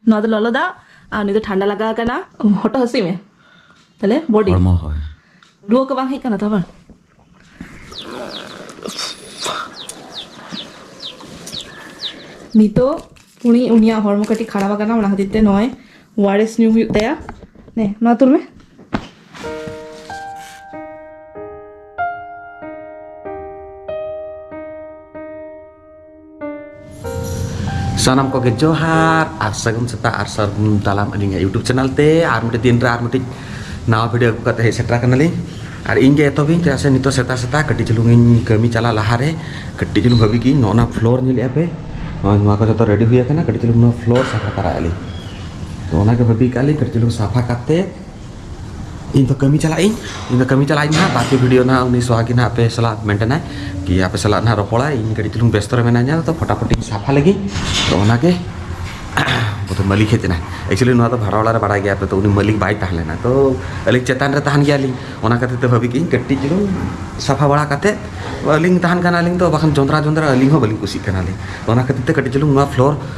ᱱᱚᱣᱟ ᱫᱚ ᱞᱚᱞᱚ ᱫᱟᱜ ᱟᱨ ᱩᱱᱤ ᱫᱚ ᱴᱷᱟᱱᱰᱟ ᱞᱟᱜᱟᱣ ᱠᱟᱱᱟ ᱦᱚᱴᱚᱜ ᱦᱟᱹᱥᱩᱭ ᱢᱮ ᱛᱟᱦᱞᱮ ᱵᱚᱰᱤ ᱦᱚᱲᱢᱚ ᱦᱳᱭ ᱨᱩᱣᱟᱹ ᱠᱚ ᱵᱟᱝ ᱦᱮᱡ ᱠᱟᱱᱟ ᱛᱚ ᱵᱟᱝ ᱱᱤᱛᱚᱜ ᱩᱱᱤ ᱩᱱᱤᱭᱟᱜ ᱦᱚᱲᱢᱚ ᱠᱟᱹᱴᱤᱡ ᱠᱷᱟᱨᱟᱯ ᱟᱠᱟᱱᱟ ᱚᱱᱟ ᱠᱷᱟᱹᱛᱤᱨ ᱛᱮ ᱱᱚᱜᱼᱚᱭ ᱳᱟᱨᱮᱥ ᱧᱩ ᱦᱩᱭᱩᱜ ᱛᱟᱭᱟ ᱱᱮ ᱱᱚᱣᱟ ᱛᱩᱞ ᱢᱮ ᱥᱟᱱᱟᱢ ᱠᱚᱜᱮ ᱡᱚᱦᱟᱨ ᱟᱨ ᱥᱟᱹᱜᱩᱱ ᱥᱮᱛᱟᱜ ᱟᱨ ᱥᱟᱹᱜᱩᱱ ᱫᱟᱞᱟᱢ ᱟᱹᱞᱤᱧᱟᱜ ᱤᱭᱩᱴᱩᱵᱽ ᱪᱮᱱᱮᱞ ᱛᱮ ᱟᱨ ᱢᱤᱫᱴᱤᱡ ᱫᱤᱱ ᱨᱮ ᱟᱨ ᱢᱤᱫᱴᱤᱡ ᱱᱟᱣᱟ ᱵᱷᱤᱰᱤᱭᱳ ᱟᱹᱜᱩ ᱠᱟᱛᱮ ᱦᱮᱡ ᱥᱮᱴᱮᱨ ᱟᱠᱟᱱᱟᱞᱤᱧ ᱟᱨ ᱤᱧ ᱜᱮ ᱮᱛᱚᱦᱚᱵᱤᱧ ᱪᱮᱫᱟᱜ ᱥᱮ ᱱᱤᱛᱚᱜ ᱥᱮᱛᱟᱜ ᱥᱮᱛᱟᱜ ᱠᱟᱹᱴᱤᱡ ᱪᱩᱞᱩᱝ ᱤᱧ ᱠᱟᱹᱢᱤ ᱪᱟᱞᱟᱜ ᱞᱟᱦᱟᱨᱮ ᱠᱟᱹᱴᱤᱡ ᱪᱩᱞᱩᱝ ᱵᱷᱟᱹᱵᱤ ᱜᱤᱧ ᱱᱚᱜᱼᱚ ᱱᱟ ᱯᱷᱞᱳᱨ ᱧᱮᱞᱮᱫᱼᱟ ᱯᱮ ᱱᱚᱜᱼᱚᱭ ᱱᱚᱣᱟ ᱠᱚ ᱡᱚᱛᱚ ᱨᱮᱰᱤ ᱦᱩᱭ ᱟᱠᱟᱱᱟ ᱠᱟᱹᱴᱤᱡ ᱪᱩᱞᱩᱝ ᱱᱚᱣᱟ ᱯᱷᱞᱳᱨ ᱥᱟᱯᱷᱟ ᱛᱟᱨᱟᱭᱮᱫᱼᱟ ᱞᱤᱧ ᱛᱚ ᱚᱱᱟᱜᱮ ᱵᱷᱟᱹᱵᱤ ᱠᱟᱜᱼᱟ ᱞᱤᱧ ᱠᱟᱹᱴᱤᱡ ᱪᱩᱞᱩᱝ ᱥᱟᱯᱷᱟ ᱠᱟᱛᱮ ᱤᱧ ᱫᱚ ᱠᱟᱹᱢᱤ ᱪᱟᱞᱟᱜ ᱤᱧ ᱤᱧ ᱫᱚ ᱠᱟᱹᱢᱤ ᱪᱟᱞᱟᱜ ᱤᱧ ᱦᱟᱸᱜ ᱵᱟᱨᱯᱮ ᱵᱷᱤᱰᱤᱭᱳ ᱱᱟᱦᱟᱜ ᱩᱱᱤ ᱥᱚᱦᱟᱜᱤ ᱱᱟᱦᱟᱜ ᱟᱯᱮ ᱥᱟᱞᱟᱜ ᱢᱮᱱᱴᱮᱱᱟᱭ ᱠᱤ ᱟᱯᱮ ᱥᱟᱞᱟᱜ ᱱᱟᱦᱟᱜ ᱨᱚᱯᱚᱲᱟ ᱤᱧ ᱠᱟᱹᱴᱤᱡ ᱪᱩᱞᱩᱝ ᱵᱮᱥᱛᱚ ᱨᱮ ᱢᱮᱱᱟᱧᱟ ᱛᱚ ᱯᱷᱚᱴᱟᱯᱷᱚᱴᱤᱧ ᱥᱟᱯᱷᱟ ᱞᱮᱜᱮ ᱛᱚ ᱚᱱᱟᱜᱮ ᱵᱚᱫᱷᱚ ᱢᱟᱹᱞᱤᱠ ᱦᱮᱡ ᱮᱱᱟᱭ ᱮᱠᱪᱩᱭᱮᱞᱤ ᱱᱚᱣᱟ ᱫᱚ ᱵᱷᱟᱲᱟ ᱚᱲᱟᱜ ᱨᱮ ᱵᱟᱲᱟᱭ ᱜᱮᱭᱟ ᱯᱮ ᱛᱚ ᱩᱱᱤ ᱢᱟᱹᱞᱤᱠ ᱵᱟᱭ ᱛᱟᱦᱮᱸ ᱞᱮᱱᱟ ᱛᱚ ᱟᱹᱞᱤᱧ ᱪᱮᱛᱟᱱ ᱨᱮ ᱛᱟᱦᱮᱱ ᱜᱮᱭᱟᱞᱤᱧ ᱚᱱᱟ ᱠᱷᱟᱹᱛᱤᱨ ᱛᱮ ᱵᱷᱟᱹᱵᱤ ᱠᱤᱧ ᱠᱟᱹᱴᱤᱡ ᱪᱩᱞᱩᱝ ᱥᱟᱯᱷᱟ ᱵᱟᱲᱟ ᱠᱟᱛᱮ ᱟᱹᱞᱤᱧ ᱛᱟᱦᱮᱱ ᱠᱟᱱᱟᱞᱤᱧ ᱛᱚ ᱵᱟᱠᱷᱟᱱ ᱡᱚᱸᱫᱽᱨᱟ ᱡᱚᱸᱫᱽᱨᱟ ᱟᱹᱞᱤᱧ ᱦᱚᱸ ᱵᱟᱹᱞᱤᱧ ᱠᱩᱥᱤᱜ ᱠᱟᱱᱟᱞᱤᱧ ᱚᱱᱟ ᱠᱷᱟᱹᱛᱤᱨ ᱛᱮ ᱠᱟᱹᱴᱤᱡ ᱪᱩᱞᱩᱝ ᱱᱚᱣᱟ ᱯᱷᱞᱳᱨ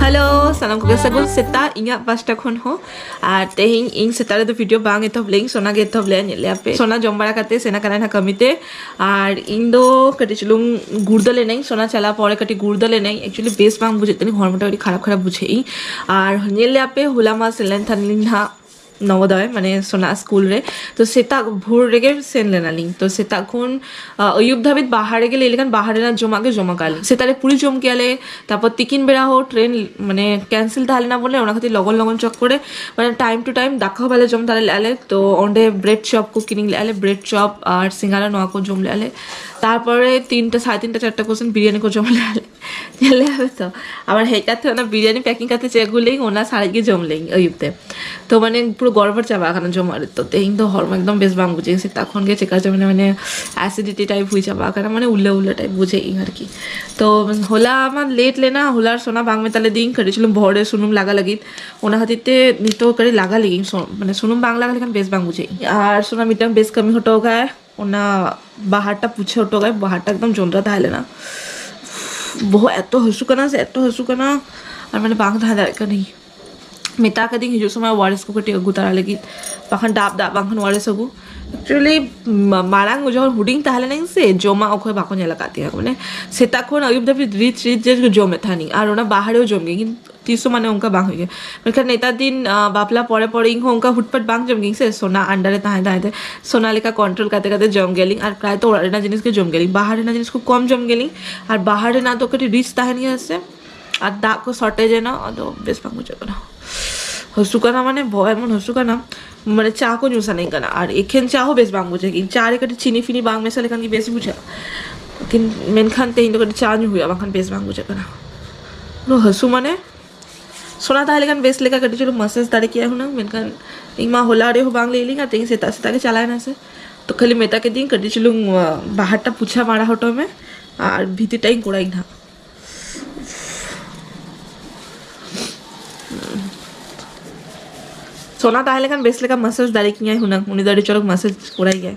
ᱦᱮᱞᱳ ᱥᱟᱱᱟᱢ ᱠᱚᱜᱮ ᱥᱟᱹᱜᱩᱱ ᱥᱮᱛᱟ ᱤᱧᱟᱹᱜ ᱯᱟᱥᱴᱟ ᱠᱷᱚᱱ ᱦᱚᱸ ᱟᱨ ᱛᱮᱦᱮᱧ ᱤᱧ ᱥᱮᱛᱟ ᱨᱮᱫᱚ ᱵᱷᱤᱰᱤᱭᱳ ᱵᱟᱝ ᱮᱛᱚᱦᱚᱵ ᱞᱮᱭᱤᱧ ᱥᱚᱱᱟ ᱜᱮ ᱮᱛᱚᱦᱚᱵ ᱞᱮᱭᱟ ᱧᱮᱞ ᱞᱮᱭᱟ ᱯᱮ ᱥᱚᱱᱟ ᱡᱚᱢ ᱵᱟᱲᱟ ᱠᱟᱛᱮ ᱥᱮᱱ ᱟᱠᱟᱱᱟ ᱱᱟᱦᱟᱜ ᱠᱟᱹᱢᱤ ᱛᱮ ᱟᱨ ᱤᱧ ᱫᱚ ᱠᱟᱹᱴᱤᱡ ᱪᱩᱞᱩᱝ ᱜᱩᱲᱫᱟᱹ ᱞᱮᱱᱟᱹᱧ ᱥᱚᱱᱟ ᱪᱟᱞᱟᱣ ᱯᱚᱨᱮ ᱠᱟᱹᱴᱤᱡ ᱜᱩᱲᱫᱟᱹ ᱞᱮᱱᱟᱹᱧ ᱮᱠᱪᱩᱭᱮᱞᱤ ᱵᱮᱥ ᱵᱟᱝ ᱵᱩᱡᱷᱟᱹᱜ ᱛᱟᱹᱞᱤᱧ ᱦᱚᱲᱢᱚᱴᱟ ᱟᱹᱰᱤ ᱠᱷᱟᱨᱟᱯ ᱠᱷᱟᱨᱟᱯ ᱵᱩᱡᱷᱟᱹᱜ ᱤᱧ ᱟᱨ ᱧᱮᱞ ᱞᱮᱭᱟ ᱯᱮ ᱦᱚᱞᱟ ᱢᱟ ᱥᱮᱱ ᱞᱮᱱ ᱛᱟᱦᱮᱱᱟᱞᱤᱧ ᱱᱟᱦᱟᱜ ᱱᱚᱵᱚᱫᱚᱭ ᱢᱟᱱᱮ ᱥᱚᱱᱟ ᱥᱠᱩᱞ ᱨᱮ ᱛᱚ ᱥᱮᱛᱟᱜ ᱵᱷᱳᱨ ᱨᱮᱜᱮ ᱥᱮᱱ ᱞᱮᱱᱟᱞᱤᱧ ᱛᱚ ᱥᱮᱛᱟᱜ ᱠᱷᱚᱱ ᱟᱹᱭᱩᱵ ᱫᱷᱟᱹᱵᱤᱡ ᱵᱟᱦᱟᱨ ᱨᱮᱜᱮ ᱞᱟᱹᱭ ᱞᱮᱠᱷᱟᱱ ᱵᱟᱦᱟᱨ ᱨᱮᱱᱟᱜ ᱡᱚᱢᱟᱜ ᱜᱮ ᱡᱚᱢ ᱟᱠᱟᱫ ᱞᱤᱧ ᱥᱮᱛᱟᱜ ᱨᱮ ᱯᱩᱨᱤ ᱡᱚᱢ ᱠᱮᱭᱟ ᱞᱮ ᱛᱟᱨᱯᱚᱨ ᱛᱤᱠᱤᱱ ᱵᱮᱲᱟ ᱦᱚᱸ ᱴᱨᱮᱱ ᱢᱟᱱᱮ ᱠᱮᱱᱥᱮᱞ ᱛᱟᱦᱮᱸ ᱞᱮᱱᱟ ᱵᱚᱞᱮ ᱚᱱᱟ ᱠᱷᱟᱹᱛᱤᱨ ᱞᱚᱜᱚᱱ ᱞᱚᱜᱚᱱ ᱪᱚᱠ ᱠᱚᱨᱮ ᱢᱟᱱᱮ ᱴᱟᱭᱤᱢ ᱴᱩ ᱴᱟᱭᱤᱢ ᱫᱟᱠᱟ ᱦᱚᱸ ᱵᱟᱞᱮ ᱡᱚᱢ ᱫᱟᱲᱮ ᱞᱮᱫᱼᱟ ᱞᱮ ᱛᱚ ᱚᱸᱰᱮ ᱵᱨᱮᱰ ᱪᱚᱯ ᱠᱚ ᱠᱤᱨᱤᱧ ᱞᱮᱫᱼᱟ ᱞᱮ ᱵᱨᱮᱰ ᱪᱚᱯ ᱟᱨ ᱥᱤᱸᱜᱟᱲᱟ ᱱᱚᱣᱟ ᱠᱚ ᱡᱚᱢ ᱞᱮᱫᱼᱟ ᱞᱮ ᱛᱟᱨᱯᱚᱨᱮ ᱛᱤᱱᱴᱟ ᱥᱟᱲᱮ ᱛᱤᱱᱴᱟ ᱪᱟᱨᱴᱟ ᱠᱚᱥᱮᱱ ᱵᱤᱨᱭᱟᱱᱤ ᱠᱚ ᱡᱚᱢ ᱞᱮᱫᱼᱟ ᱞᱮ ᱧᱮᱞ ᱞᱮᱭᱟ ᱯᱮ ᱛᱚ ᱟᱵᱟᱨ ᱦᱮᱡ ᱠᱟᱛᱮ ᱚᱱᱟ ᱵᱤᱨᱭᱟᱱᱤ ᱯᱮᱠᱤᱝ ᱠᱟᱛᱮ ᱪᱮᱫ ᱟᱹᱜᱩ ᱞᱮᱭᱟᱹᱧ ᱚᱱᱟ ᱥᱟᱨᱮᱡ ᱜᱮ ᱡᱚᱢ ᱞᱮᱭᱟᱹᱧ ᱟᱹᱭᱩᱵ ᱛᱮ ᱛᱚ ᱢᱟᱱᱮ ᱯᱩᱨᱟᱹ ᱜᱚᱲᱵᱚᱲ ᱪᱟᱵᱟ ᱟᱠᱟᱱᱟ ᱡᱚᱢᱟᱜ ᱨᱮ ᱛᱚ ᱛᱮᱦᱮᱧ ᱫᱚ ᱦᱚᱲᱢᱚ ᱮᱠᱫᱚᱢ ᱵᱮᱥ ᱵᱟᱝ ᱵᱩᱡᱷᱟᱹᱜ ᱥᱮᱛᱟᱜ ᱠᱷᱚᱱ ᱜᱮ ᱪᱮᱠᱟ ᱪᱚ ᱢᱟᱱᱮ ᱢᱟᱱᱮ ᱮᱥᱤᱰᱤᱴᱤ ᱴᱟᱭᱤᱯ ᱦᱩᱭ ᱪᱟᱵᱟ ᱟᱠᱟᱱᱟ ᱢᱟᱱᱮ ᱩᱞᱟᱹ ᱩᱞᱟᱹ ᱴᱟᱭᱤᱯ ᱵᱩᱡᱷᱟᱹᱜ ᱤᱧ ᱟᱨᱠᱤ ᱛᱚ ᱦᱚᱞᱟ ᱢᱟ ᱞᱮᱴ ᱞᱮᱱᱟ ᱦᱚᱞᱟᱨ ᱥᱚᱱᱟ ᱵᱟᱝ ᱢᱮᱛᱟ ᱞᱮᱫᱤᱧ ᱠᱟᱹᱴᱤᱡ ᱪᱩᱞᱩᱝ ᱵᱚᱦᱚᱜ ᱨᱮ ᱥᱩᱱᱩᱢ ᱞᱟᱜᱟ ᱞᱟᱹᱜᱤᱫ ᱚᱱᱟ ᱠᱷᱟᱹᱛᱤᱨ ᱛᱮ ᱱᱤᱛᱚᱜ ᱠᱟᱹᱴᱤᱡ ᱞᱟᱜᱟ ᱞᱮᱜᱤᱧ ᱢᱟᱱᱮ ᱥᱩᱱᱩᱢ ᱵᱟᱝ ᱞᱟᱜᱟ ᱞᱮᱠᱷᱟᱱ ᱵᱮᱥ ᱵᱟᱝ ᱵᱩᱡᱷᱟᱹᱜ ᱟᱨ ᱥᱚᱱᱟ ᱢᱤᱫᱴᱟᱝ ᱵᱮᱥ ᱠᱟᱹᱢᱤ ᱦᱚᱴᱚ ᱠᱟᱜᱼᱟᱭ ᱚᱱᱟ ᱵᱟᱦᱟᱴᱟ ᱯᱩᱪᱷᱟᱹᱣ ᱦᱚᱴᱚ ᱠᱟᱜ ᱵᱟᱦᱟᱴᱟ ᱮᱠᱫᱚᱢ ᱡᱚᱸᱰᱨᱟ ᱛᱟᱦᱮᱸ ᱞᱮᱱᱟ ᱵᱚᱦᱚᱜ ᱮᱛᱚ ᱦᱟᱹᱥᱩ ᱠᱟᱱᱟ ᱥᱮ ᱮᱛᱚ ᱦᱟᱹᱥᱩ ᱠᱟᱱᱟ ᱟᱨ ᱢᱟᱱᱮ ᱵᱟᱝ ᱛᱟᱦᱮᱸ ᱫᱟᱲᱮᱭᱟᱜ ᱠᱟᱹᱱᱟᱹᱧ ᱢᱮᱛᱟ ᱠᱟᱹᱫᱤᱧ ᱦᱤᱡᱩᱜ ᱥᱚᱢᱚᱭ ᱳᱣᱟᱨᱮᱥ ᱠᱚ ᱠᱟᱹᱴᱤᱡ ᱟᱹᱜᱩ ᱛᱟᱨᱟ ᱞᱟᱹᱜᱤᱫ ᱵᱟᱠᱷᱟᱱ ᱰᱟᱵ ᱫᱟᱜ ᱵᱟᱝᱠᱷᱟᱱ ᱳᱣᱟᱨᱮᱥ ᱟᱹᱜᱩ ᱮᱠᱪᱩᱭᱮᱞᱤ ᱢᱟᱲᱟᱝ ᱡᱚᱠᱷᱚᱱ ᱦᱩᱰᱤᱧ ᱛᱟᱦᱮᱸ ᱞᱮᱱᱟᱹᱧ ᱥᱮ ᱡᱚᱢᱟᱜ ᱚᱠᱚᱭ ᱵᱟᱠᱚ ᱧᱮᱞ ᱟᱠᱟᱫ ᱛᱤᱧᱟᱹ ᱢᱟᱱᱮ ᱥᱮᱛᱟᱜ ᱠᱷᱚᱱ ᱟᱹᱭᱩᱵ ᱫᱷᱟᱹᱵᱤᱡ ᱨᱤᱪ ᱨᱤᱪ ᱡᱮ ᱡᱚᱢᱮᱫ ᱛᱟᱦᱮᱱᱤᱧ ᱟᱨ ᱚᱱᱟ ᱵᱟᱦᱟᱨᱮ ᱡᱚᱢ ᱜᱮ ᱛᱤᱥ ᱦᱚᱸ ᱢᱟᱱᱮ ᱚᱱᱠᱟ ᱵᱟᱝ ᱦᱩᱭᱩᱜ ᱜᱮᱭᱟ ᱢᱮᱱᱠᱷᱟᱱ ᱱᱮᱛᱟᱨ ᱫᱤᱱ ᱵᱟᱯᱞᱟ ᱯᱚᱨᱮ ᱯᱚᱨᱮ ᱤᱧ ᱦᱚᱸ ᱚᱱᱠᱟ ᱦᱩᱴᱯᱟᱴ ᱵᱟᱝ ᱡᱚᱢ ᱜᱤᱭᱟᱹᱧ ᱥᱮ ᱥᱳᱱᱟ ᱟᱱᱰᱟᱨ ᱨᱮ ᱛᱟᱦᱮᱸ ᱛᱟᱦᱮᱸ ᱛᱮ ᱥᱳᱱᱟ ᱞᱮᱠᱟ ᱠᱚᱱᱴᱨᱳᱞ ᱠᱟᱛᱮ ᱠᱟᱛᱮ ᱡᱚᱢ ᱜᱮᱭᱟᱞᱤᱧ ᱟᱨ ᱯᱨᱟᱭ ᱛᱚ ᱚᱲᱟᱜ ᱨᱮᱱᱟᱜ ᱡᱤᱱᱤᱥ ᱜᱮ ᱡᱚᱢ ᱜᱮᱭᱟᱞᱤᱧ ᱵᱟᱦᱟᱨ ᱨᱮᱱᱟᱜ ᱡᱤᱱᱤᱥ ᱠᱚ ᱠᱚᱢ ᱡᱚᱢ ᱜᱮᱭᱟᱞᱤᱧ ᱟᱨ ᱵᱟᱦᱟᱨ ᱨᱮᱱᱟᱜ ᱫᱚ ᱠᱟᱹᱴᱤᱡ ᱨᱤᱪ ᱛᱟᱦᱮᱱ ᱜᱮᱭᱟ ᱥᱮ ᱟᱨ ᱫᱟᱜ ᱠᱚ ᱥᱚᱨᱴᱮᱡᱽ ᱮᱱᱟ ᱟᱫᱚ ᱵᱮᱥ ᱵᱟᱝ ᱵᱩᱡᱷᱟᱹᱜ ᱠᱟᱱᱟ ᱦᱟᱹᱥᱩ ᱠᱟᱱᱟ ᱢᱟᱱᱮ ᱵᱚᱦᱚᱜ ᱮᱢᱚᱱ ᱦᱟᱹᱥᱩ ᱠᱟᱱᱟ ᱢᱟᱱᱮ ᱪᱟ ᱠᱚ ᱧᱩ ᱥᱟᱱᱟᱧ ᱠᱟᱱᱟ ᱟᱨ ᱮᱠᱷᱮᱱ ᱪᱟ ᱦᱚᱸ ᱵᱮᱥ ᱵᱟᱝ ᱵᱩᱡᱷᱟᱹᱜ ᱜᱮ ᱪᱟ ᱨᱮ ᱠᱟᱹᱴᱤᱡ ᱪᱤᱱᱤ ᱯᱷᱤᱱᱤ ᱵᱟᱝ ᱢᱮᱥᱟ ᱞᱮᱠᱷᱟᱱ ᱜᱮ ᱵᱮᱥ ᱵᱩᱡᱷᱟᱹᱜᱼᱟ ᱢᱮᱱᱠᱷᱟᱱ ᱛᱮᱦᱮᱧ ᱫᱚ ᱠᱟᱹᱴᱤᱡ ᱪᱟ ᱧᱩ ᱦᱩᱭᱩᱜᱼᱟ ᱵᱟᱝᱠᱷᱟᱱ ᱵᱮᱥ ᱵᱟᱝ ᱵᱩᱡᱷᱟᱹᱜ ᱠᱟᱱᱟ ᱱᱚ ᱦᱟᱹᱥᱩ ᱢᱟᱱᱮ ᱥᱚᱱᱟ ᱛᱟᱦᱮᱸ ᱞᱮᱠᱷᱟᱱ ᱵᱮᱥ ᱞᱮᱠᱟ ᱠᱟᱹᱴᱤᱡ ᱪᱩᱞᱩᱝ ᱢᱟᱥᱟᱡᱽ ᱫᱟᱲᱮ ᱠᱮᱭᱟ ᱦᱩᱱᱟᱹᱝ ᱢᱮᱱᱠᱷᱟᱱ ᱤᱧ ᱢᱟ ᱦᱚᱞᱟ ᱨᱮ ᱦᱚᱸ ᱵᱟᱝ ᱞᱟᱹᱭ ᱞᱤᱧᱟ ᱛᱮᱦᱮᱧ ᱥᱮᱛᱟᱜ ᱥᱮᱛᱟᱜ ᱜᱮ ᱪᱟᱞᱟᱣ ᱮᱱᱟ ᱥᱮ ᱛᱚ ᱠᱷᱟᱹᱞᱤ ᱢᱮᱛᱟ ᱠᱮᱫᱤᱧ ᱠᱟᱹᱴᱤᱡ ᱪᱩᱞᱩᱝ ᱵᱟᱦᱟᱨᱴᱟ ᱯᱩᱪᱷᱟ ᱢᱟᱲᱟ ᱦᱚᱴᱚ ᱢᱮ ᱟᱨ ᱵᱷᱤᱛᱤᱨ ᱴᱟᱜ ᱤᱧ ᱠᱚᱲᱟᱭ ᱱᱟᱦᱟᱜ ᱥᱚᱱᱟ ᱛᱟᱦᱮᱸ ᱞᱮᱠᱷᱟᱱ ᱵᱮᱥ ᱞᱮᱠᱟ ᱢᱟᱥᱟᱡᱽ ᱫᱟᱲᱮ ᱠᱤᱧᱟᱭ ᱦᱩᱱᱟᱹᱝ ᱩᱱᱤ ᱫᱚ ᱟᱹᱰᱤ ᱪᱚᱨᱚᱠ ᱢᱟᱥᱟᱡᱽ ᱠᱚᱲᱟᱭ ᱜᱮᱭᱟᱭ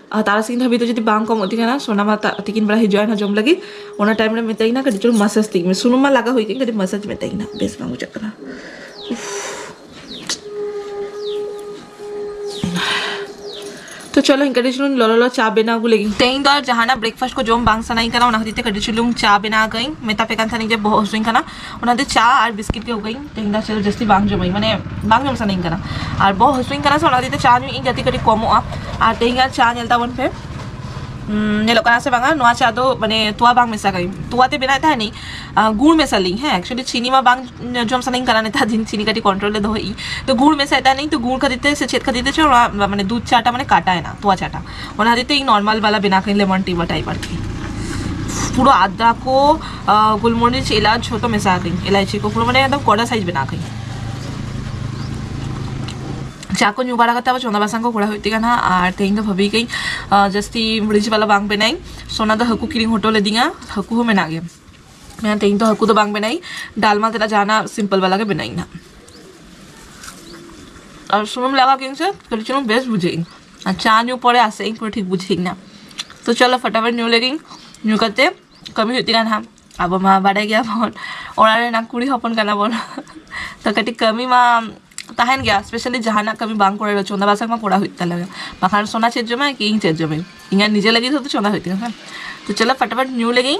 ᱟᱨ ᱛᱟᱨᱟᱥᱤᱧ ᱫᱷᱟᱹᱵᱤᱡ ᱫᱚ ᱡᱩᱫᱤ ᱵᱟᱝ ᱠᱚᱢᱚᱜ ᱛᱤᱧ ᱠᱟᱱᱟ ᱥᱚᱱᱟ ᱢᱟ ᱛᱤᱠᱤᱱ ᱵᱮᱲᱟ ᱦᱤᱡᱩᱜᱼᱟ ᱱᱟᱦᱟᱜ ᱡᱚᱢ ᱞᱟᱹᱜᱤᱫ ᱚᱱᱟ ᱴᱟᱭᱤᱢ ᱨᱮ ᱢᱮᱛᱟᱭ ᱠᱟᱱᱟ ᱠᱟᱹᱴᱤᱡ ᱪᱩᱞᱩᱝ ᱢᱟᱥᱟᱡᱽ ᱛᱤᱧ ᱢᱮ ᱥᱩᱱᱩᱢ ᱢᱟ ᱞᱟᱜᱟᱣ ᱦᱩᱭ ᱠᱟᱱ ᱠᱟᱹᱴᱤᱡ ᱢᱟᱥᱟᱡᱽ ᱢᱮᱛᱟᱭ ᱠᱟᱱᱟ ᱵᱮᱥ ᱵᱟᱝ ᱵᱩᱡᱷᱟᱹᱜ ᱠᱟᱱᱟ ᱛᱚ ᱪᱚᱞᱚ ᱤᱧ ᱠᱟᱹᱴᱤᱡ ᱪᱩᱞᱩᱝ ᱞᱚᱞᱚ ᱞᱚ ᱪᱟ ᱵᱮᱱᱟᱣ ᱟᱹᱜᱩ ᱞᱟᱹᱜᱤᱫ ᱛᱮᱦᱮᱧ ᱫᱚ ᱡᱟᱦᱟᱱᱟᱜ ᱵᱨᱮᱠᱯᱷᱟᱥᱴ ᱠᱚ ᱡᱚᱢ ᱵᱟᱝ ᱥᱟᱱᱟᱧ ᱠᱟᱱᱟ ᱚᱱᱟ ᱠᱷᱟᱹᱛᱤᱨ ᱛᱮ ᱠᱟᱹᱴᱤᱡ ᱪᱩᱞᱩᱝ ᱪᱟ ᱵᱮᱱᱟᱣ ᱟᱠᱟᱫᱟᱹᱧ ᱢᱮᱛᱟ ᱯᱮ ᱠᱟᱱ ᱛᱟᱦᱮᱱᱤᱧ ᱡᱮ ᱵᱚᱦᱚᱜ ᱦᱟᱹᱥᱩᱧ ᱠᱟᱱᱟ ᱚᱱᱟᱛᱮ ᱪᱟ ᱟᱨ ᱵᱤᱥᱠᱤᱴ ᱜᱮ ᱟᱹᱜᱩᱭᱟᱹᱧ ᱛᱮᱦᱮᱧ ᱫᱚ ᱪᱮᱫ ᱡᱟᱹᱥᱛᱤ ᱵᱟᱝ ᱡᱚᱢᱟᱹᱧ ᱢᱟᱱᱮ ᱵᱟᱝ ᱡᱚᱢ ᱥᱟᱱᱟᱧ ᱠᱟᱱᱟ ᱟᱨ ᱵᱚᱦᱚᱜ ᱦᱟᱹᱥᱩᱧ ᱠᱟᱱᱟ ᱥᱮ ᱚᱱᱟ ᱠᱷᱟᱹᱛᱤᱨ ᱛᱮ ᱪᱟ ᱧᱩᱭᱮᱫ ᱤᱧ ᱡᱟᱛᱮ ᱠᱟᱹᱴᱤᱡ ᱠᱚᱢᱚᱜᱼᱟ ᱟᱨ ᱛᱮᱦᱮᱧ ᱟᱨ ᱪᱟ ᱧᱮᱞ ᱛᱟᱵᱚᱱ ᱯᱮ ᱧᱮᱞᱚᱜ ᱠᱟᱱᱟ ᱥᱮ ᱵᱟᱝᱟ ᱱᱚᱣᱟ ᱪᱟ ᱫᱚ ᱢᱟᱱᱮ ᱛᱚᱣᱟ ᱵᱟᱝ ᱢᱮᱥᱟ ᱠᱟᱹᱧ ᱛᱚᱣᱟ ᱛᱮ ᱵᱮᱱᱟᱣᱮᱫ ᱛᱟᱦᱮᱱᱤᱧ ᱜᱩᱲ ᱢᱮᱥᱟ ᱞᱤᱧ ᱦᱮᱸ ᱮᱠᱪᱩᱭᱮᱞᱤ ᱪᱤᱱᱤ ᱢᱟ ᱵᱟᱝ ᱡᱚᱢ ᱥᱟᱱᱟᱧ ᱠᱟᱱᱟ ᱱᱮᱛᱟᱨ ᱫᱤᱱ ᱪᱤᱱᱤ ᱠᱟᱹᱴᱤᱡ ᱠᱚᱱᱴᱨᱳᱞ ᱨᱮ ᱫᱚᱦᱚᱭᱮᱫ ᱤᱧ ᱛᱚ ᱜᱩᱲ ᱢᱮᱥᱟᱭᱮᱫ ᱛᱟᱦᱮᱱᱤᱧ ᱛᱚ ᱜᱩᱲ ᱠᱷᱟᱹᱛᱤᱨ ᱛᱮ ᱥᱮ ᱪᱮᱫ ᱠᱷᱟᱹᱛᱤᱨ ᱛᱮ ᱪᱚ ᱚᱱᱟ ᱢᱟᱱᱮ ᱫᱩᱫᱷ ᱪᱟᱴᱟ ᱢᱟᱱᱮ ᱠᱟᱴᱟᱭᱮᱱᱟ ᱛᱚᱣᱟ ᱪᱟᱴᱟ ᱚᱱᱟ ᱠᱷᱟᱹᱛᱤᱨ ᱛᱮ ᱤᱧ ᱱᱚᱨᱢᱟᱞ ᱵᱟᱞᱟ ᱵᱮᱱᱟᱣ ᱠᱟᱹᱧ ᱞᱮᱢᱚᱱ ᱴᱤ ᱵᱟ ᱴᱟᱭᱤᱯ ᱟᱨᱠᱤ ᱯᱩᱨᱟᱹ ᱟᱫᱟ ᱠᱚ ᱜᱩᱞᱢᱚᱨᱤᱪ ᱮᱞᱟᱪ ᱡᱷᱚᱛᱚ ᱢᱮᱥᱟ ᱠᱟᱹᱧ ᱮᱞᱟᱭᱪᱤ ᱠᱚ ᱯᱩᱨᱟᱹ ᱢᱟᱱᱮ ᱮᱠᱫᱚᱢ ᱠᱚᱰᱟ ᱥᱟᱭᱤᱡ ᱵᱮᱱᱟᱣ ᱠᱟᱹᱧ ᱪᱟ ᱠᱚ ᱧᱩ ᱵᱟᱲᱟ ᱠᱟᱛᱮ ᱟᱵᱚ ᱪᱚᱸᱫᱟ ᱵᱟᱥᱟᱝ ᱠᱚ ᱠᱚᱨᱟᱣ ᱦᱩᱭᱩᱜ ᱛᱤᱧᱟ ᱱᱟᱦᱟᱜ ᱟᱨ ᱛᱮᱦᱮᱧ ᱫᱚ ᱵᱷᱟᱹᱵᱤ ᱠᱟᱹᱧ ᱡᱟᱹᱥᱛᱤ ᱢᱩᱲᱤᱡ ᱵᱟᱞᱟ ᱵᱟᱝ ᱵᱮᱱᱟᱭᱤᱧ ᱥᱚᱱᱟ ᱫᱚ ᱦᱟᱹᱠᱩ ᱠᱤᱨᱤᱧ ᱦᱚᱴᱚ ᱞᱮᱫᱤᱧᱟ ᱦᱟᱹᱠᱩ ᱦᱚᱸ ᱢᱮᱱᱟᱜ ᱜᱮᱭᱟ ᱢᱮᱱᱟ ᱛᱮᱦᱮᱧ ᱫᱚ ᱦᱟᱹᱠᱩ ᱫᱚ ᱵᱟᱝ ᱵᱮᱱᱟᱭᱤᱧ ᱰᱟᱞᱢᱟ ᱛᱮᱱᱟᱜ ᱡᱟᱦᱟᱱᱟᱜ ᱥᱤᱢᱯᱚᱞ ᱵᱟᱞᱟ ᱜᱮ ᱵᱮᱱᱟᱭᱤᱧ ᱱᱟᱦᱟᱜ ᱟᱨ ᱥᱩᱱᱩᱢ ᱞᱟᱜᱟᱣ ᱠᱤᱱ ᱥᱮ ᱠᱟᱹᱴᱤᱡ ᱪᱩᱞᱩᱝ ᱵᱮᱥ ᱵᱩᱡᱷᱟᱹᱜ ᱤᱧ ᱟᱨ ᱪᱟ ᱧᱩ ᱯᱚᱨᱮ ᱟᱥᱮᱜ ᱤᱧ ᱯᱩᱨᱟᱹ ᱴᱷᱤᱠ ᱵᱩᱡᱷᱟᱹᱣᱤᱧ ᱱᱟ ᱛᱚ ᱪᱚᱞᱚ ᱯᱷᱚᱴᱟᱯᱷᱚᱴ ᱧᱩ ᱞᱮᱜᱤᱧ ᱧᱩ ᱠᱟᱛᱮ ᱠᱟᱹᱢᱤ ᱦᱩᱭᱩᱜ ᱛᱤᱧᱟ ᱱᱟᱦᱟᱜ ᱟᱵᱚ ᱢᱟ ᱵᱟᱰᱟᱭ ᱜᱮᱭᱟᱵᱚᱱ ᱚᱲᱟᱜ ᱨᱮᱱᱟᱜ ᱠᱩᱲᱤ ᱦᱚᱯᱚᱱ ᱠᱟᱱᱟ ᱵᱚᱱ ᱛᱚ ᱠᱟᱹᱴᱤᱡ ᱠᱟᱹᱢᱤ ᱢᱟ ᱛᱟᱦᱮᱱ ᱜᱮᱭᱟ ᱥᱯᱮᱥᱟᱞᱤ ᱡᱟᱦᱟᱱᱟᱜ ᱠᱟᱹᱢᱤ ᱵᱟᱝ ᱠᱚᱨᱟᱣ ᱨᱮᱦᱚᱸ ᱪᱚᱸᱫᱟ ᱵᱟᱥᱟᱝ ᱢᱟ ᱠᱚᱨᱟᱣ ᱦᱩᱭᱩᱜ ᱛᱟᱞᱮ ᱜᱮ ᱵᱟᱠᱷᱟᱱ ᱥᱳᱱᱟ ᱪᱮᱫ ᱡᱚᱢᱟᱭ ᱠᱤ ᱤᱧ ᱪᱮᱫ ᱡᱚᱢᱟᱹᱧ ᱤᱧᱟᱹᱜ ᱱᱤᱡᱮ ᱞᱟᱹᱜᱤᱫ ᱦᱚᱸᱛᱚ ᱪᱚᱸᱫᱟ ᱦᱩᱭᱩᱜ ᱛᱤᱧᱟ ᱥᱮ ᱛᱚ ᱪᱚᱞᱚ ᱯᱷᱚᱴᱟᱯᱷᱚᱴ ᱧᱩ ᱞᱮᱜᱤᱧ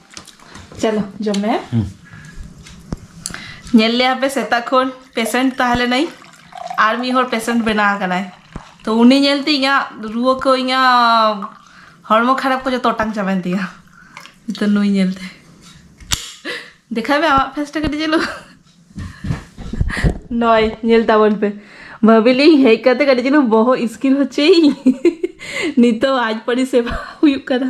ᱪᱚᱞᱚ ᱡᱚᱢ ᱢᱮ ᱧᱮᱞ ᱞᱮᱭᱟ ᱯᱮ ᱥᱮᱛᱟᱜ ᱠᱷᱚᱱ ᱯᱮᱥᱮᱱᱴ ᱛᱟᱦᱮᱸ ᱞᱮᱱᱟᱭ ᱟᱨ ᱢᱤᱫ ᱦᱚᱲ ᱯᱮᱥᱮᱱᱴ ᱵᱮᱱᱟᱣ ᱟᱠᱟᱱᱟᱭ ᱛᱚ ᱩᱱᱤ ᱧᱮᱞᱛᱮ ᱤᱧᱟᱹᱜ ᱨᱩᱣᱟᱹ ᱠᱚ ᱤᱧᱟᱹᱜ ᱦᱚᱲᱢᱚ ᱠᱷᱟᱨᱟᱯ ᱠᱚ ᱡᱚᱛᱚ ᱚᱴᱟᱝ ᱪᱟᱵᱟᱭᱮᱱ ᱛᱤᱧᱟᱹ ᱱᱤᱛᱚᱜ ᱱᱩᱭ ᱧᱮᱞᱛᱮ ᱫᱮᱠᱷᱟᱭ ᱢᱮ ᱟᱢᱟᱜ ᱯᱷᱮᱥᱴᱟ ᱠᱟᱹᱴᱤᱡ ᱪᱟᱹᱞᱩ ᱱᱚᱭ ᱧᱮᱞ ᱛᱟᱵᱚᱱ ᱯᱮ ᱵᱷᱟᱹᱵᱤᱞᱤᱧ ᱦᱮᱡ ᱠᱟᱛᱮ ᱠᱟᱹᱴᱤᱡ ᱪᱟᱹᱞᱩ ᱵᱚᱦᱚᱜ ᱤᱥᱠᱤᱨ ᱦᱚᱪᱚᱭᱤᱧ ᱱᱤᱛᱚᱜ ᱟᱡ ᱯᱟᱹᱨᱤ ᱥᱮᱵᱟ ᱦᱩᱭᱩᱜ ᱠᱟᱱᱟ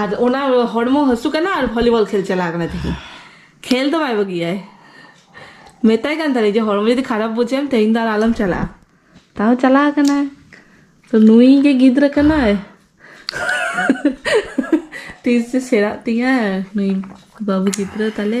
ᱟᱨ ᱚᱱᱟ ᱦᱚᱲᱢᱚ ᱦᱟᱹᱥᱩ ᱠᱟᱱᱟ ᱟᱨ ᱵᱷᱚᱞᱤᱵᱚᱞ ᱠᱷᱮᱞ ᱪᱟᱞᱟᱣ ᱠᱟᱱᱟ ᱛᱮᱦᱮᱧ ᱠᱷᱮᱞ ᱫᱚ ᱵᱟᱭ ᱵᱟᱹᱜᱤᱭᱟᱭ ᱢᱮᱛᱟᱭ ᱠᱟᱱ ᱛᱟᱦᱮᱸ ᱡᱮ ᱦᱚᱲᱢᱚ ᱡᱩᱫᱤ ᱠᱷᱟᱨᱟᱯ ᱵᱩᱡᱷᱟᱹᱣ ᱮᱢ ᱛᱮᱦᱮᱧ ᱫᱚ ᱟᱨ ᱟᱞᱚᱢ ᱪᱟᱞᱟᱜᱼᱟ ᱛᱟᱣ ᱪᱟᱞᱟᱣ ᱠᱟᱱᱟᱭ ᱛᱚ ᱱᱩᱭ ᱜᱮ ᱜᱤᱫᱽᱨᱟᱹ ᱠᱟᱱᱟᱭ ᱛᱤᱥ ᱡᱮ ᱥᱮᱬᱟᱜ ᱛᱤᱧᱟᱹ ᱱᱩᱭ ᱵᱟᱹᱵᱩ ᱜᱤᱫᱽᱨᱟᱹ ᱛᱟᱞᱮ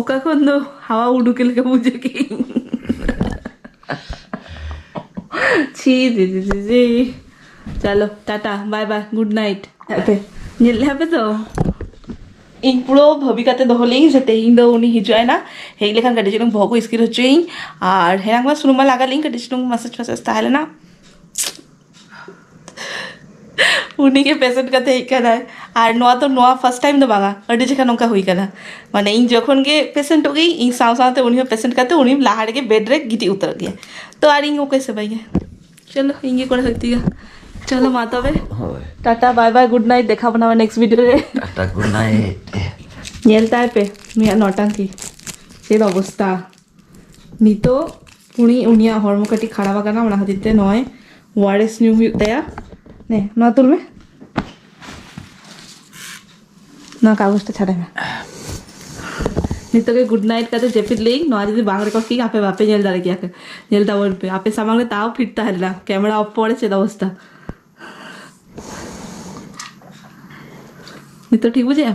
ᱚᱠᱟ ᱠᱷᱚᱱ ᱫᱚ ᱦᱟᱣᱟ ᱩᱰᱩᱠᱮ ᱞᱮᱠᱟ ᱵᱩᱡᱷᱟᱹᱣ ᱠᱮᱫ ᱤᱧ ᱪᱷᱤ ᱫᱤ ᱫᱤ ᱫᱤ ᱫᱤ ᱪᱟᱞᱳ Tata bye bye good night ᱟᱯᱮ ᱧᱮᱞ ᱞᱮᱫᱼᱟ ᱯᱮ ᱛᱚ ᱤᱧ ᱯᱩᱨᱟᱹ ᱵᱷᱟᱹᱵᱤ ᱠᱟᱛᱮ ᱫᱚᱦᱚ ᱞᱮᱫᱟᱹᱧ ᱥᱮ ᱛᱮᱦᱮᱧ ᱫᱚ ᱩᱱᱤ ᱦᱤᱡᱩᱜ ᱟᱭ ᱱᱟ ᱦᱮᱡ ᱞᱮᱠᱷᱟᱱ ᱠᱟᱹᱴᱤᱡ ᱪᱩᱞᱩᱝ ᱵᱚᱦᱚᱜ ᱠᱚ ᱤᱥᱠᱤᱨ ᱦᱚᱪᱚᱭᱤᱧ ᱟᱨ ᱦᱮᱱᱟᱝ ᱢᱟ ᱥᱩᱱᱩᱢ ᱢᱟ ᱞᱟᱜᱟᱣ ᱞᱮᱫᱟᱹᱧ ᱠᱟᱹᱴᱤᱡ ᱪᱩᱞᱩᱝ ᱢᱟᱥᱟᱡᱽ ᱯᱷᱟᱥᱟᱡᱽ ᱛᱟᱦᱮᱸ ᱞᱮᱱᱟ ᱩᱱᱤ ᱜᱮ ᱯᱮᱥᱮᱱᱴ ᱠᱟᱛᱮ ᱦᱮᱡ ᱠᱟᱱᱟᱭ ᱟᱨ ᱱᱚᱣᱟ ᱫᱚ ᱱᱚᱣᱟ ᱯᱷᱟᱥᱴ ᱴᱟᱭᱤᱢ ᱫᱚ ᱵᱟᱝᱟ ᱟᱹᱰᱤ ᱡᱚᱠᱷᱟᱱ ᱱᱚᱝᱠᱟ ᱦᱩᱭ ᱠᱟᱱᱟ ᱢᱟᱱᱮ ᱤᱧ ᱡᱚᱠᱷᱚᱱ ᱜᱮ ᱯᱮᱥᱮᱱᱴᱚᱜ ᱜᱮᱭᱤᱧ ᱤᱧ ᱥᱟᱶ ᱥᱟᱶᱛᱮ ᱩᱱᱤ ᱦᱚᱸ ᱯᱮᱥᱮᱱᱴ ᱠᱟᱛᱮ ᱩᱱᱤ ᱞᱟᱦᱟ ᱨᱮᱜᱮ ᱵᱮᱰ ᱨᱮ ᱜᱤᱛᱤᱡ ᱩᱛᱟᱹᱨᱚᱜ ᱜᱮᱭᱟᱭ ᱛᱚ ᱟᱨ ᱤᱧ ᱚᱠᱚᱭ ᱥᱮᱵᱟᱭᱮᱭᱟ ᱪᱚᱞᱚ ᱤᱧ ᱜᱮ ᱠᱚᱨᱟᱣ ᱦᱩᱭᱩᱜ ᱛᱤᱧᱟ ᱪᱚᱞᱚ ᱢᱟ ᱛᱚᱵᱮ ᱦᱳᱭ tata bye bye good night ᱫᱮᱠᱷᱟᱣ ᱵᱚᱱᱟ ᱱᱮᱠᱥᱴ ᱵᱷᱤᱰᱤᱭᱳ ᱨᱮ ᱴᱟᱴᱟ ᱜᱩᱰ ᱱᱟᱭᱤᱴ ᱧᱮᱞ ᱛᱟᱭ ᱯᱮ ᱱᱩᱭᱟᱜ ᱱᱚᱴᱟᱝᱠᱤ ᱪᱮᱫ ᱚᱵᱚᱥᱛᱟ ᱱᱤᱛᱚᱜ ᱩᱱᱤ ᱩᱱᱤᱭᱟᱜ ᱦᱚᱲᱢᱚ ᱠᱟᱹᱴᱤᱡ ᱠᱷᱟᱨᱟᱯ ᱟᱠᱟᱱᱟ ᱚᱱᱟ ᱠᱷᱟᱹᱛᱤᱨ ᱛᱮ ᱱᱚᱜᱼᱚᱭ ᱳᱣᱟᱨᱮᱥ ᱧᱩ ᱦᱩᱭᱩᱜ ᱛᱟᱭᱟ ᱱᱮ ᱱᱚᱣᱟ ᱛᱩᱞ ᱢᱮ ᱱᱚᱣᱟ ᱠᱟᱜᱚᱡᱽᱴᱟ ᱪᱷᱟᱰᱟᱭ ᱢᱮ ᱱᱤᱛᱚᱜ ᱜᱮ ᱜᱩᱰ ᱱᱟᱭᱤᱴ ᱠᱟᱛᱮ ᱡᱟᱹᱯᱤᱫ ᱞᱮᱭᱤᱧ ᱱᱚᱣᱟ ᱡᱩᱫᱤ ᱵᱟᱝ ᱨᱮᱠᱚᱨᱰ ᱠᱤᱧ ᱟᱯᱮ ᱵᱟᱯᱮ ᱧᱮᱞ ᱫᱟᱲᱮ ᱠᱮᱭᱟ ᱧᱮᱞ ᱛᱟᱵᱚᱱ ᱯᱮ ᱟᱯᱮ ᱥᱟᱢᱟᱝ ᱨᱮ ᱛᱟᱣ ᱯᱷᱤᱴ ᱛᱟᱦᱮᱸ ᱞᱮᱱᱟ ᱠᱮᱢᱮᱨᱟ ᱚᱯᱷ ᱯᱚᱨᱮ ᱪᱮᱫ ᱚᱵᱚᱥᱛᱟ ᱱᱤᱛᱚᱜ ᱴᱷᱤᱠ ᱵᱩᱡᱷᱟᱹᱜᱼᱟ